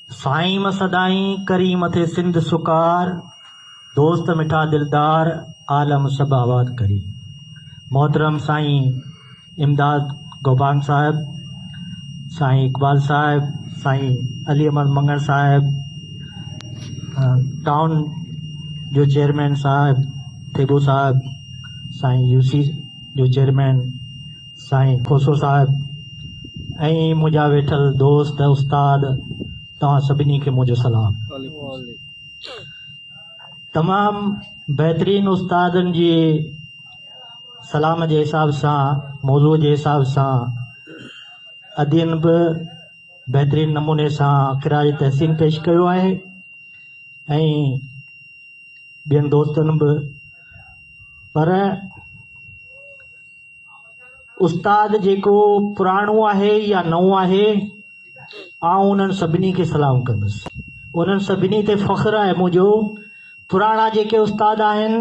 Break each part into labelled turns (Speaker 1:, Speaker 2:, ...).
Speaker 1: سائيم سدائين ڪريم ٿي سنڌ سڪار دوست مٺا دلدار عالم سڀ آباد ڪري محترم سائين امداد گوبانگ صاحب سائين اقبال صاحب سائين علي احمد منگڻ صاحب ٽاؤن جو چيئرمين صاحب ٿيٻو صاحب سائين يوسي جو چيئرمين سائين کوسو صاحب ۽ منهنجا ويٺل دوست استاد توهان سڀني کي منهنجو سلام تمام بهترين استادن جي سلام جي حساب سان موضوع جي حساب سان ادين به بهترين نموني سان خراج تحسين پيش ڪيو آهي ۽ ٻين دوستن به پر استاد جيڪو پراڻو آهي يا نئون آهي آئون انهن سڀني کي سلام ڪندس انهن سڀني تي فخر آهي منهنجو پراڻا جيڪي استاد آهن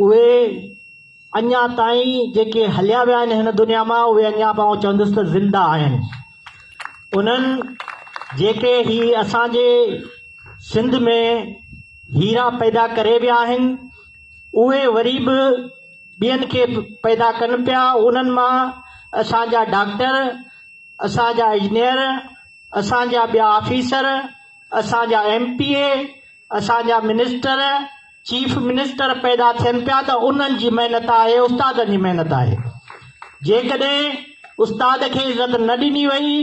Speaker 1: اهي اڃا تائين جيڪي هليا ويا آهن هن دنيا مان اهي اڃا به آئون چوندس ته زنده آهن انهن جيڪي هي اسانجي سنڌ ۾ هيرا پيدا ڪري ويا آهن اهي وري به ٻين کي پيدا ڪن پيا، انهن مان اسان جا ڊاڪٽر، اسان جا انجنيئر، اسان جا ٻيا آفيسر، اسان جا ايم پي اي، اسان جا منسٽر، چيف منسٽر پيدا ٿين پيا ته انهن جي محنت آهي، استادن جي محنت آهي. جيڪڏهن استاد کي عزت نه ڏني وئي،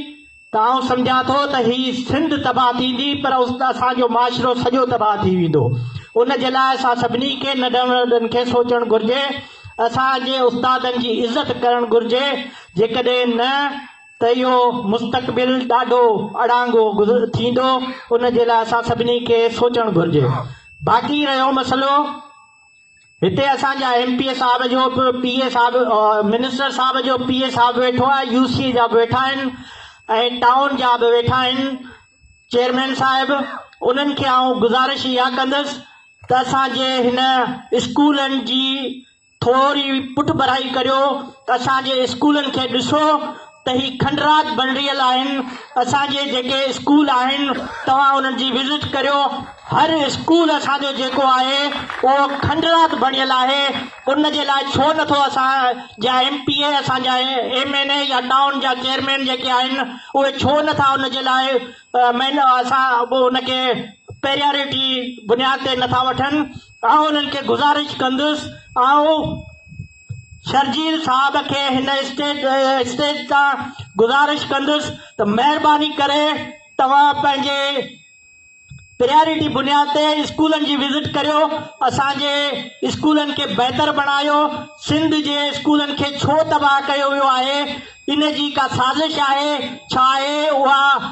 Speaker 1: ته آئون سمجهان ٿو ته هي سنڌ تباهه ٿيندي پر اسان جو معاشرو سڄو تباهه ٿي ويندو ان جي لاء اسان سڀني کي ننڍن وڏن کي سوچڻ گهرجي اسان جي استادن جي عزت ڪرڻ گهرجي جيڪڏهن نه ته اهو مستقبل ڏاڍو اڙانگو ٿيندو ان جي لاء اسان سڀني کي سوچڻ گهرجي باقي رهيو مسئلو هتي اسان جا ايم پي اي صاحب جو به پي اي صاحب منسٽر صاحب جو پي اي صاحب ويٺو آهي يو سي اي جا به ويٺا آهن ۽ ٽائون جا به ويٺا آهن چيئرمين صاحب انهن کي آئون گذارش اها ڪندس ته اسان جي هن اسڪولن جي ٿوري پٺڀرائي ڪريو اسان جي اسڪولن کي ڏسو ته هي کنڊرات بڻريل آهن اسان جي جيڪي اسڪول آهن توهان انهن جي وزٽ ڪريو هر اسڪول اسان جو جيڪو آهي اهو کنڊرات بڻيل آهي ان جي لاء ڇو نٿو اسان جا ايم پي اي اسان جا ايم اين اي يا ٽائون جا چيئرمين جيڪي آهن اهي ڇو نٿا ان جي لاء مين اسان ان کي پيريارٽي بنياد تي نٿا وٺن آئون انهن کي گذارش ڪندس آئون شرجيل صاحب کي هن اسٽيج تان گذارش ڪندس ته مهرباني ڪري توهان پنهنجي پريارٽي بنياد تي اسڪولن جي وزٽ ڪريو اسان جي اسڪولن کي بهتر بڻايو سنڌ جي اسڪولن کي ڇو تباهه ڪيو ويو آهي ان جي ڪا سازش آهي ڇا آهي اها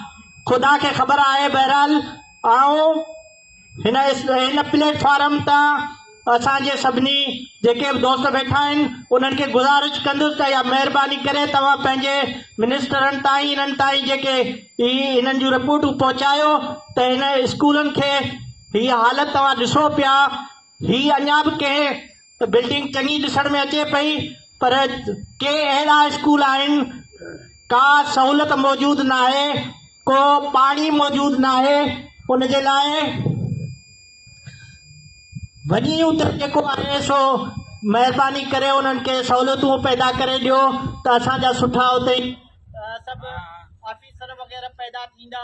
Speaker 1: خدا کي خبر آهي بهرحال آئون هن هن پليٽ فارم تان اسان جي سڀني جيڪي به دوست ويٺا آهن انهن کي گذارش ڪندس ته اها مهرباني ڪري توهان پنهنجي منسٽرن تائين انهن تائين جيڪي هي انهن جون رپورٽون پهچايو ته هن اسڪولن کي هي حالت توهان ڏسو پيا هي اڃا به ڪنهن ته بلڊنگ چڱي ڏسڻ ۾ اچي پئي پر ڪي اهڙا اسڪول آهن ڪا سهولت موجود ناهي ڪو پاڻي موجود ناهي ان جي لاء وڃي اتي جيڪو آهي سو مهرباني ڪري انهن کي سهولتون پيدا ڪري ڏيو ته اسان جا سٺا اتي سڀ آفيسر وغيره پيدا ٿيندا